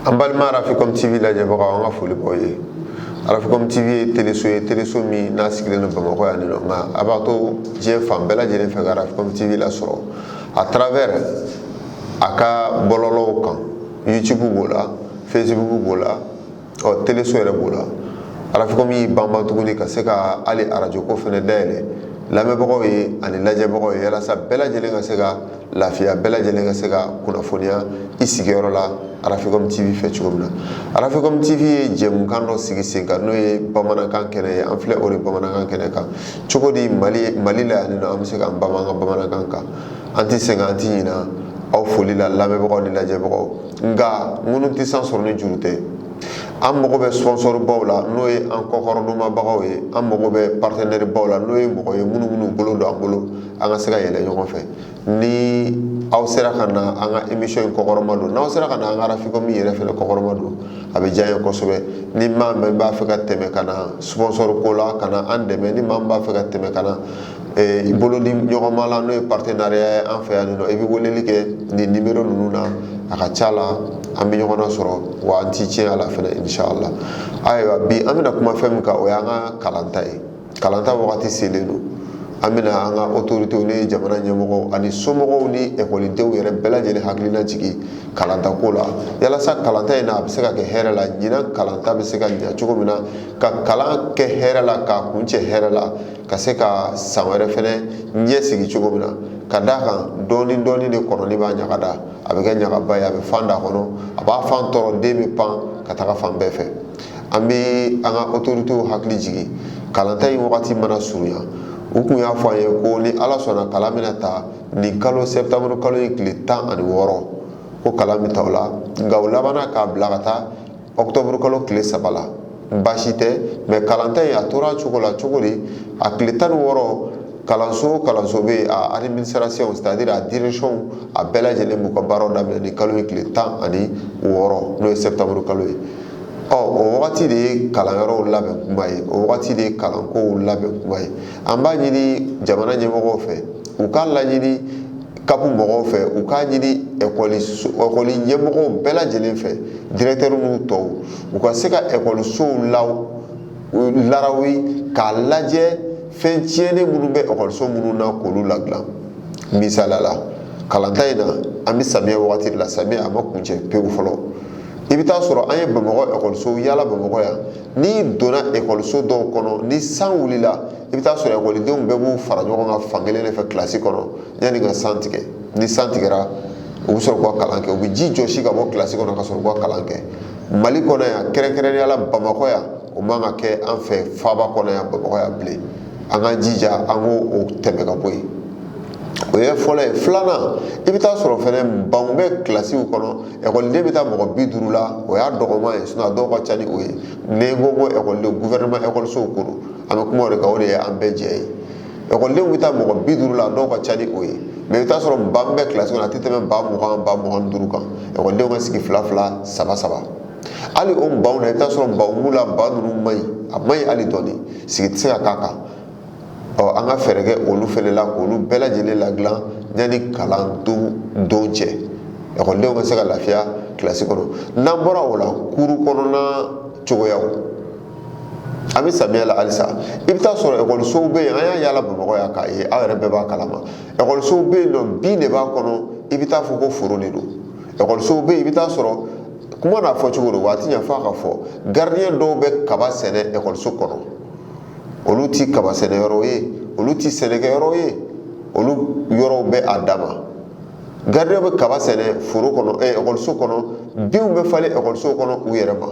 an balima arafikom tv lajɛbagaw an ka foli b'aw ye arafikom tv ye teleso ye teleso min n'a sigilen don bamakɔ yan nɔ nka a b'a to diɲɛ fan bɛɛ lajɛlen fɛ ka arafikom tv lasɔrɔ a travers a ka bɔlɔlɔw kan youtube b'o la facebook b'o la ɔ teleso yɛrɛ b'o la arafikɔmi y'i banba tuguni ka se ka hali arajo ko fɛnɛ dayɛlɛ lamɛnbagaw ye ani lajɛbagaw ye yalasa bɛɛ lajɛlen ka se ka lafiya bɛɛ lajɛlen ka se ka kunnafoniya i sigiyɔrɔ la arafikɔmi tv fɛ cogo min na arafikɔmi tv ye jɛmukan dɔ sigi sen kan n'o ye bamanankan kɛnɛ ye an filɛ o de bamanankan kɛnɛ kan cogo di mali mali la yan nɔ an bɛ se k'an bama an ka bamanankan kan an tɛ sɛgɛn an tɛ ɲina aw foli la lamɛnbagaw ni lajɛbagaw nka ŋunu tɛ san sɔrɔ ni juru tɛ an mago bɛ sponsorbaw la n'o ye an kɔkɔrɔdonmabagaw ye an mago bɛ partenairebaw la n'o ye mɔgɔ ye minnu minnu bolo don an bolo an ka se ka yɛlɛ ɲɔgɔn fɛ ni aw sera ka na an ka émission in kɔkɔrɔma don n'aw sera ka na an ka arafikɔmi yɛrɛ fɛnɛ kɔkɔrɔma don a bɛ diya an ye kosɛbɛ ni maa min b'a fɛ ka tɛmɛ ka na sponsor ko la ka na an dɛmɛ ni maa min b'a fɛ ka tɛmɛ ka na eh, i bolo di ɲɔgɔnma la n'o ye partenariat ye an fɛ yan nɔ i bɛ weleli kɛ nin nimero ninnu na a ka ca la an bɛ ɲɔgɔn sɔrɔ wa an ti tiɲɛ a la fɛnɛ inshallah ayiwa bi an bɛna kuma fɛn min kan o y'an ka kalanta ye kalanta wagati selen don an bɛna an ka otoritew ni jamana ɲɛmɔgɔw ani somɔgɔw ni ekɔlidenw yɛrɛ bɛɛ lajɛlen hakilina jigin kalanta ko la yalasa kalanta in na a bɛ se ka kɛ hɛrɛ la ɲinan kalanta bɛ se ka ɲɛ cogo min na ka kalan kɛ hɛrɛ la k'a kuncɛ hɛrɛ la ka se ka san wɛrɛ fɛnɛ ɲɛsigi cogo min na ka d'a kan dɔɔni dɔɔni de kɔnɔnin b'a ɲaga da a bɛ kɛ ɲagaba ye a bɛ fan da a kɔnɔ a b'a fan tɔɔrɔ den bɛ pan ka taga fan bɛɛ fɛ an bɛ an ka otoritew hakili jigin kalanta in wagati mana surunya u kun y'a fɔ an ye ko ni ala sɔnna kalan bɛna ta nin kalo sɛtanburu kalo in tile tan ani wɔɔrɔ ko kalan bɛ ta o la nka u labanna k'a bila ka taa ɔkutɔburu kalo tile saba la baasi tɛ mɛ kalanta in a tora cogo la cogo di a tile tan ni wɔɔrɔ kalanso kalanso bɛɛ administration c'est-à-dire a direction a bɛɛ lajɛlen b'u ka baaraw daminɛ nin kalo in tile tan ani wɔɔrɔ n'o ye sɛtanburu kalo ye ɔ o wagati de ye kalanyɔrɔw labɛn kuma ye o wagati de ye kalankow labɛn kuma ye an b'a ɲini jamana ɲɛmɔgɔw fɛ u k'a laɲini kapu mɔgɔw fɛ u k'a ɲini ekɔli ɲɛmɔgɔw bɛɛ lajɛlen fɛ dirɛkitɛriw n'u tɔw u ka se ka ekɔlisow larawi k'a lajɛ fɛn tiɲɛnen minnu bɛ ekɔliso minnu na k'olu ladilan misaliya la kalanta in na an bɛ samiya wagati de la samiya a ma kuncɛ pewu fɔlɔ i bɛ taa sɔrɔ an ye bamakɔ ekɔlisow yala bamakɔ yan n'i donna ekɔliso dɔw kɔnɔ ni san wulila i bɛ taa sɔrɔ ekɔlidenw bɛɛ b'u fara ɲɔgɔn kan fan kelen de fɛ kilasi kɔnɔ yanni ka san tigɛ ni san tigɛra u bɛ sɔrɔ k'u ka kalan kɛ u bɛ ji jɔsi ka bɔ kilasi kɔnɔ ka sɔrɔ k'u ka kalan kɛ mali kɔnɔ yan kɛrɛnkɛrɛnnenya la bamakɔ yan o man ka kɛ an fɛ faaba kɔnɔ yan bamakɔ yan bilen an k'an jija an k'o tɛmɛ ka bɔ yen o ye fɔlɔ ye filanan i bɛ taa sɔrɔ fɛnɛ banw bɛ kilasiw kɔnɔ ekɔliden bɛ taa mɔgɔ bi duuru la o y'a dɔgɔman ye a dɔw ka ca ni o ye ni n ko ko ekɔliden gufɛrɛnɛma ekɔlisow ko don an bɛ kuma o de kan o de ye an bɛɛ jɛ ye ekɔlidenw bɛ taa mɔgɔ bi duuru la dɔw ka ca ni o ye mɛ i bɛ t'a sɔrɔ ban min bɛ kilasi kɔnɔ a tɛ tɛmɛ ban mugan ban mugan ni duuru kan ekɔlidenw ka sigi fila fila saba saba hali o banw la i bɛ t'a sɔrɔ banw b'u la ban ninnu man ɲi a man ɲi hali dɔɔni sigi tɛ se ka k'a kan ɔ an ka fɛɛrɛ kɛ olu fɛnɛ la k'olu bɛɛ lajɛlen ladilan yanni kalan don don cɛ ekɔlidenw ka se ka lafiya kilasi kɔnɔ n'an bɔra o la kuru kɔnɔna cogoyaw an bɛ samiya la halisa i bɛ taa sɔrɔ ekɔlisow bɛ yen an y'a yala bamakɔ yan k'a ye aw yɛrɛ bɛɛ b'a kalama ekɔlisow bɛ yen nɔ bin de b'a kɔnɔ i bɛ taa fɔ ko foro de don ekɔlisow bɛ yen i bɛ taa sɔrɔ kuma n'a fɔ cogo don wa tiɲɛ fo a ka fɔ garidiyɛn dɔw bɛ kaba sɛnɛ ekɔliso kɔnɔ olu tɛ kaba sɛnɛ yɔrɔ ye olu tɛ sɛnɛkɛ yɔrɔ ye olu yɔrɔw bɛ a dama gardien bɛ kaba sɛnɛ foro kɔnɔ ɛ eh, ekɔliso kɔnɔ binw bɛ falen ekɔliso kɔnɔ u yɛrɛ ma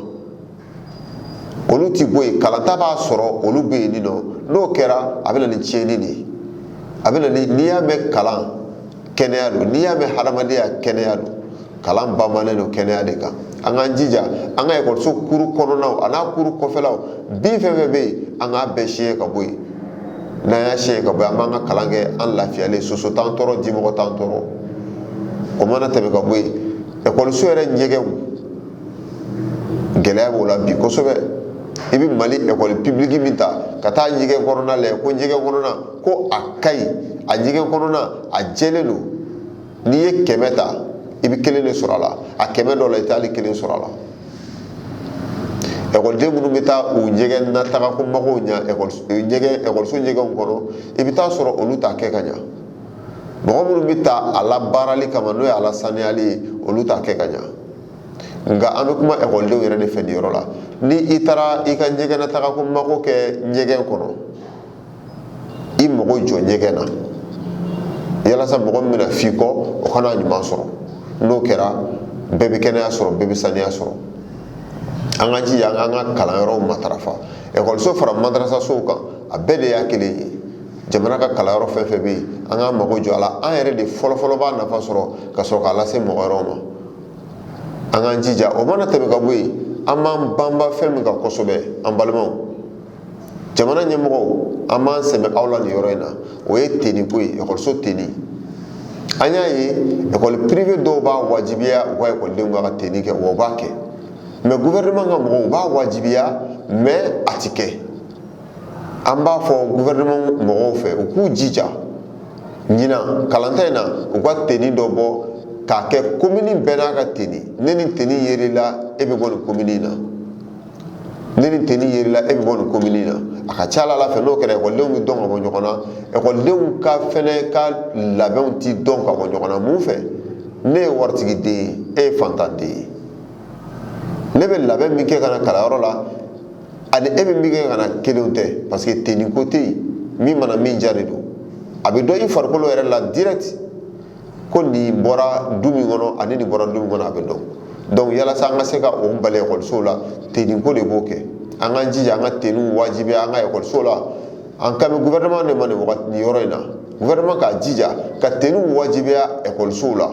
olu ti bɔ yen kalanta b'a sɔrɔ olu bɛ yen nin nɔ n'o kɛra a bɛ na ni tiɲɛni de ye a bɛ na ni n'i y'a mɛn kalan kɛnɛya don n'i y'a mɛn hadamadenya kɛnɛya don kalan bamanen don kɛnɛya de kan an k'an jija an ka ekɔliso kuru kɔnɔnaw an'a kuru kɔfɛlaw bin fɛn fɛn bɛ yen an k'a bɛɛ siɲɛ ka bɔ yen n'an y'a siɲɛ ka bɔ yen an b'an ka kalan kɛ an lafiyalen soso t'an tɔɔrɔ dimɔgɔ t'an tɔɔrɔ o mana tɛmɛ ka bɔ yen ekɔliso yɛrɛ ɲɛgɛnw gɛlɛya b'o la bi kosɛbɛ i bɛ mali ekɔli pibiliki min ta ka taa ɲɛgɛn kɔnɔna lajɛ ko ɲɛgɛn kɔnɔna ko a ka ɲi a ɲɛgɛn kɔnɔna a jɛlen don n'i ye kɛmɛ ta i bɛ kelen de sɔrɔ a la a kɛmɛ dɔ la i t'ali kelen sɔrɔ a la ekɔliden minnu bɛ taa u ɲɛgɛn na taga ko magow ɲa ɲɛgɛn ekɔliso ɲɛgɛnw kɔnɔ i bɛ taa sɔrɔ olu t'a kɛ ka ɲa mɔgɔ minnu bɛ ta a labaarali kama n'o ye a lasaniyali ye olu t'a kɛ ka ɲa nka an bɛ kuma ekɔlidenw yɛrɛ de fɛ nin yɔrɔ la ni i taara i ka ɲɛgɛn na taga ko mako kɛ ɲɛgɛn kɔnɔ i mago jɔ ɲɛgɛn na yalasa mɔgɔ min bɛna f'i kɔ o ka n'a ɲuman sɔrɔ n'o kɛra bɛɛ bɛ kɛnɛya sɔrɔ bɛɛ bɛ saniya sɔrɔ an ka jija an ka kalanyɔrɔw matarafa ekɔliso fara madarasasow kan a bɛɛ de y'a kelen ye jamana ka kalanyɔrɔ fɛn fɛn bɛ yen an k'an mago jɔ a la an yɛrɛ de fɔlɔfɔlɔ b'a nafa sɔrɔ ka sɔrɔ k'a lase mɔgɔ wɛrɛw ma an k'an jija o mana tɛmɛ ka bɔ yen an b'an banba fɛn min kan kosɛbɛ an balimaw jamana ɲɛmɔgɔw an b'an sɛmɛ aw la nin yɔrɔ in na o ye teni ko ye ekɔliso teni an y'a ye ekɔli privé dɔw b'a wajibiya u ka ekɔlidenw ka teni kɛ wa u b'a kɛ mais gouvernement ka mɔgɔw u b'a wajibiya mais a ti kɛ an b'a fɔ gouvernement mɔgɔw fɛ u k'u jija ɲinan kalanta in na u ka teni dɔ bɔ k'a kɛ komini bɛɛ n'a ka teni ni nin teni yer'i la e bɛ bɔ nin komini in na ni nin teni yer'i la e bɛ bɔ nin komini na a ka ca ala fɛ n'o kɛra ekɔlidenw bɛ dɔn ka bɔ ɲɔgɔn na ekɔlidenw ka fɛnɛ ka labɛnw ti dɔn ka bɔ ɲɔgɔn na mun fɛ ne ye waritigi den ye e ye fantan den ye ne bɛ labɛn min kɛ ka na kalanyɔrɔ la ani e bɛ min kɛ ka na kelenw tɛ parce que teni ko tɛ yen min mana min diya de don a bɛ dɔn i farikolo yɛrɛ la direct ko nin bɔra du min kɔnɔ ani nin bɔra du min kɔnɔ a bɛ dɔn donc yalasa an ka se ka o bali ekɔlisow la teniko de b'o kɛ an k'an jija an ka teniw wajibiya an ka ekɔlisow la an kan bɛ gouvernement de ma nin wagati nin yɔrɔ in na gouvernement k'a jija ka teniw wajibiya ekɔlisow la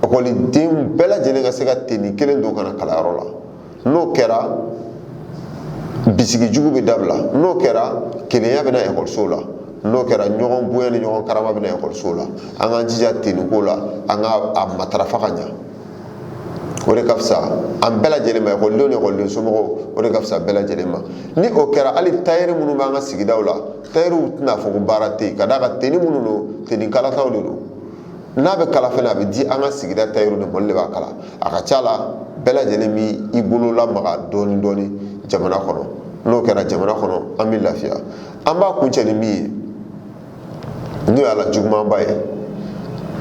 ekɔlidenw bɛɛ lajɛlen ka se ka teni kelen don ka na kalanyɔrɔ la n'o kɛra bisigi jugu bɛ dabila n'o kɛra kelenya bɛ na ekɔlisow la n'o kɛra ɲɔgɔn bonya ni ɲɔgɔn karama bɛ na ekɔlisow la an k'an jija teniko la an ka a matarafa ka ɲa o de ka fisa an bɛɛ lajɛlen ma ekɔlidenw ni ekɔliden somɔgɔw o de ka fisa bɛɛ lajɛlen ma ni o kɛra hali tayɛri minnu b'an ka sigidaw la tayɛriw tɛna fɔ ko baara tɛ yen ka d'a kan teni minnu don teni kalataw de don n'a bɛ kala fɛnɛ a bɛ di an ka sigida tayɛriw de ma olu de b'a kala a ka ca la bɛɛ lajɛlen b'i bolo lamaga dɔɔni dɔɔni jamana kɔnɔ n'o kɛra jamana kɔnɔ an bɛ lafiya an b'a kuncɛ ni min ye n'o y'a la jugumanba ye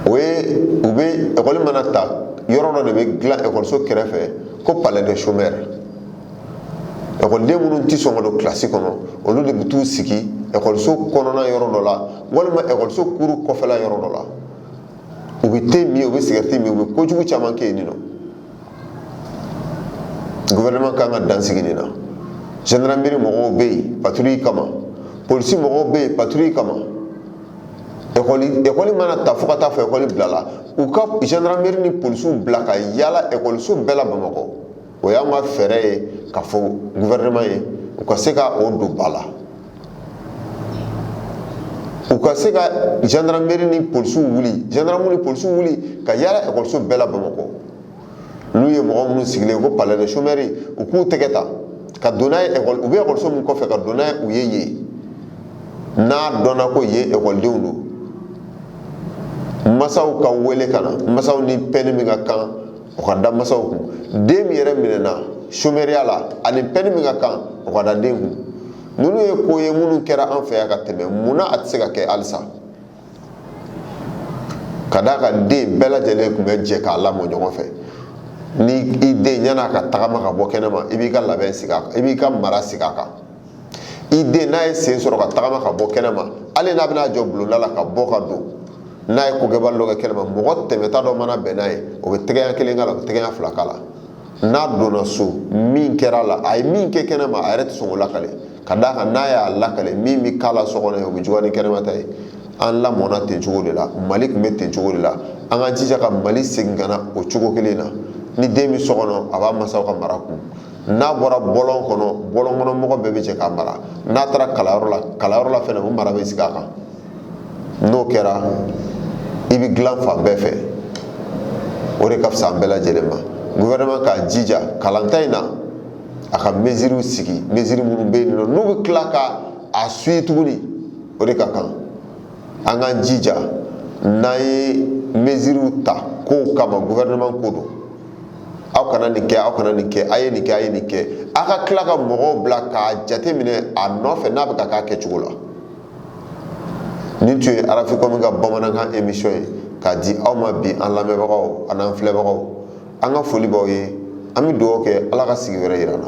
o ye u bɛ ekɔli mana ta yɔrɔ dɔ de bɛ dilan ekɔliso kɛrɛfɛ ko palais de chômeur ekɔliden minnu tɛ sɔn ka don kilasi kɔnɔ olu de bɛ t'u sigi ekɔliso kɔnɔna yɔrɔ dɔ la walima ekɔliso kuru kɔfɛla yɔrɔ dɔ la u bɛ te min u bɛ sigɛriti min u bɛ kojugu caman kɛ yen nɔ gouvernement kan ka dan sigi nin na gendarmerie mɔgɔw bɛ yen patrouille kama polisi mɔgɔw bɛ yen patrouille kama ekɔli ekɔli mana ta fo ka taa fo ekɔli bilala u ka gendarmerie ni polisiw bila ka yaala ekɔliso bɛɛ la bamakɔ o y'an ka fɛɛrɛ ye ka fɔ gouvernement ye u ka se ka o don ba la u ka se ka gendarmerie ni polisiw wuli gendarmerie ni polisiw wuli ka yaala ekɔliso bɛɛ la bamakɔ n'u ye mɔgɔ minnu sigilen ko palais de chômeurs u k'u tɛgɛ ta ka don n'a ye ekɔli u bɛ ekɔliso min kɔfɛ ka don n'a ye u ye yen n'a dɔnna ko yen ekɔlidenw don masaw ka wele ka na masaw ni pɛni min ka kan o ka da masaw kun den min yɛrɛ minɛna somɛriya la ani pɛni min ka kan o ka da den kun ninnu ye ko ye minnu kɛra an fɛ yan ka tɛmɛ munna a tɛ se ka kɛ halisa ka d'a kan den bɛɛ lajɛlen tun bɛ jɛ k'a lamɔ ɲɔgɔn fɛ ni i den yan'a ka tagama ka bɔ kɛnɛma i b'i ka labɛn sigi a kan i b'i ka mara sigi a kan i den n'a ye sen sɔrɔ ka tagama ka bɔ kɛnɛma hali n'a bɛna jɔ bulonda la ka bɔ ka don n'a ye kokɛbali dɔ kɛ kɛnɛma mɔgɔ tɛmɛta dɔ mana bɛn n'a ye o bɛ tɛgɛ ɲɛ kelen k'a la o bɛ tɛgɛ ɲɛ fila k'a la n'a donna so min kɛra a la a ye min kɛ kɛnɛma a yɛrɛ tɛ sɔn k'o lakale ka d'a kan n'a y'a lakale min bɛ k'a la so kɔnɔ yen o bɛ juguya ni kɛnɛma ta ye an lamɔna ten cogo de la mali tun bɛ ten cogo de la an ka jija ka mali segin ka na o cogo kelen na ni den bɛ so kɔnɔ a b'a masaw ka mara kɔnɔ n'a bɔra bɔlɔn kɔnɔ bɔlɔn kɔnɔ mɔgɔ bɛɛ bɛ jɛ k'a mara n'a taara kalanyɔrɔ la kalanyɔrɔ la fɛnɛ o mara bɛ sigi a kan n'o kɛra i bɛ dilan fan bɛɛ fɛ o de ka fisa an bɛɛ lajɛlen ma gouvernement k'a jija kalanta in na a ka mesuriw sigi mesuri minnu bɛ yen nɔ n'u bɛ tila ka a suivi tuguni o de ka kan an k'an jija n'an ye mesuriw ta kow kama gouvernement ko don aw kana nin kɛ aw kana nin kɛ a ye nin kɛ a ye nin kɛ a ka tila ka mɔgɔw bila k'a jateminɛ a nɔfɛ n'a bɛ ka k'a kɛcogo la nin tun ye arafikɔmi ka bamanankan emisiyɔn ye k'a di aw ma bi an lamɛnbagaw a n'an filɛbagaw an ka foli b'aw ye an bɛ dugawu kɛ ala ka sigi wɛrɛ yira an na